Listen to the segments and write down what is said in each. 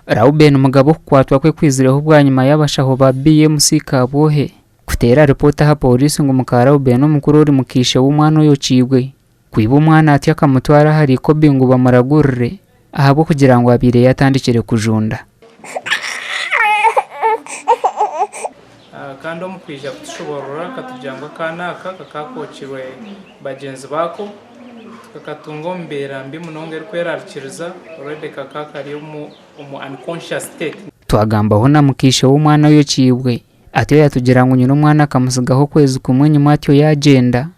Reuben Mugabe okukwatwa kwe kwizireho bwanyima y'abashaho ba BMC Kabwohe kuteera ripoota aha Pooriisi ngu muka Reuben omukuru ori muka ishe w'omwana oyokiibwe kwiba omwana atyo akamutwara ahari Ikobi ngu bamuragurire ahabw'okugira ngu abaire yatandikire kujunda. Kandi omu kwija kutushoboorora akatugira ngu akaana aka kakaakookirwe bagyenzi baako, tikakatunga omu mbeera mbi munonga erikweraarikiriza, already kakaba kari omu unconscious state. Twagambaho na mukaishe w'omwana oyokiibwe, atyoya atugira ngu nyina omwana akamutsigaho okwezi kumwe enyima atyo yaagyenda.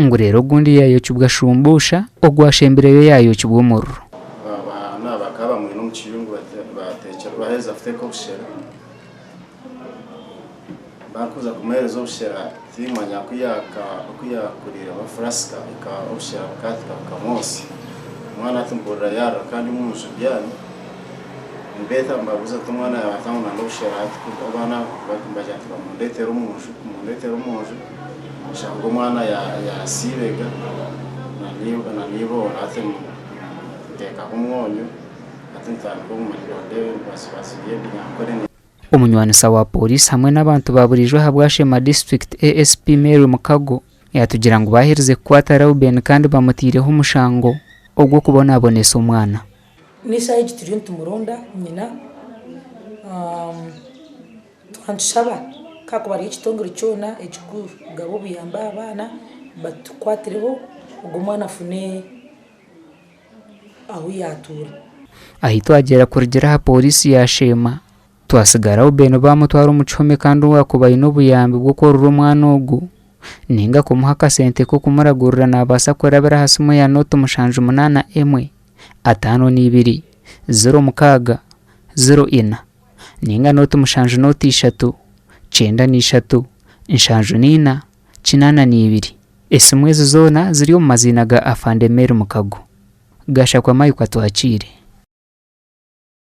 Ngu reero ogundi yaayokibwa shumbuusha, ogwashembireyo yaayokibwa omuriro. Abaana bakaba bamwine omu kiyungu baaheza kuteeka obushera. Barikuza kumuheereza obushera, tiimanya ku yaakuriire bafurasika, obushera bukaahika bukamwotsya. Omwana ati, Mpurira yaarira kandi omu nju mbyami. Nibeeta nibabuuza ngu, Omwana yaabaata ngu nana obushera? Abaana nibagira ngu, Bamundeetere omu nju. Oshanga omwana yasiibega na neiboora hati ninteekaho omwonyo hati nitandika obumanyiso ndeebe ebibatsibatsi by'ebi naakore. Omunywaniisa wa pooriisi hamwe n'abantu ba buriijo aha Bwashema District, ASP Mary Mukago, yaatugira ngu baaherize kukwata Reuben kandi bamutaireho omushango ogw'okubonabonesa omwana. N'eshaaha egi turiyo nitumuronda nyina twaba nitushaba ku haakuba hariho ekitongore kyona ekirikugaba obuyambi aha baana batukwatireho ogwo omwana afune ahu yaatuura. Ahi twagyera kurugira aha pooriisi ya Sheema, twatsigaraho beene baamutwara omu kihome kandi owaakuba aine obuyambi bw'okworora omwana ogwo nainga kumuha akasente k'okumuragurira naabaasa kurabira aha simu ya nooti mushanju munaana emwe. ataano n'eibiri, ziro mukaaga, ziro ina, nainga nooti mushanju nooti ishatu, kyenda n'eishatu, nshanju n'eina, kinaana n'eibiri. Esimu ezi zoona ziri omu maziina ga Afande Mary Mukago. Gashakwa Michael atwakiire.